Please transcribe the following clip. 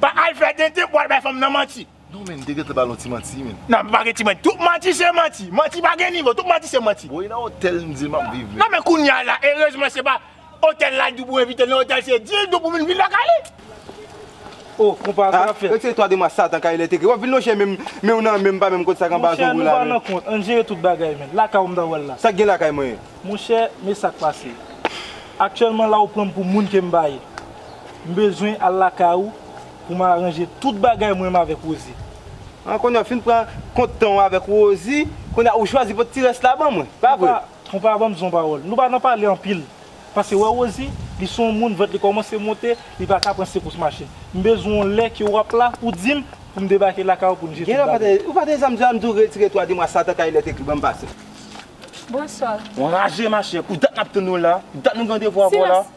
Pa al fè tenten pou al bay fanm nan manti. Non men te gentan bal yon ti manti men. Nan pa gen ti manti. Tout manti se manti. Manti pa gen nivo. Tout manti se manti. Bon e nan otèl n di l map viv men. Non men kounya la erezman se pa otèl la di pou envite l nan otèl se di l tou pou vin viv lakay li. Oh konpa sa kap fèt. Yo se 3 de mwa satan kay lè te kri. Wap vin non chè men men w nan men pa menm kot sa k anba zong ou la men. Monchè nou pa nan kont ann jere tout bagay men. Lakay ou m ta wè l la. Sak gen lakay mwen. Monchè men sak pase. Aktyèlman la ou pran m pou moun ke m pa ye. M bezwen al lakay ou pou m aranje tout bagay mwen menm avèk Rosie. An, kounye a ou fin pran kont tan ou avèk Rosie, kounye a ou chwazi pot ti rès la ban mwen, pa vre? Konpa ban m zon pawòl. Nou pa nan pale anpil. Pase wè Rosie, li se yon moun vant li kòmanse monte, li pa ka pran sekous mache. M bezwen yon lè ke ou ap la pou di m pou m debake lakay ou pou n jete bagay. Ou pa desanm zè a m di ou retire twa di mwa sa ta ka elektrik ban m pase. Bonswa. Ou anraje machè. Pou dat n ap tann ou la? Dat nou gen randevou avè w la? Silans!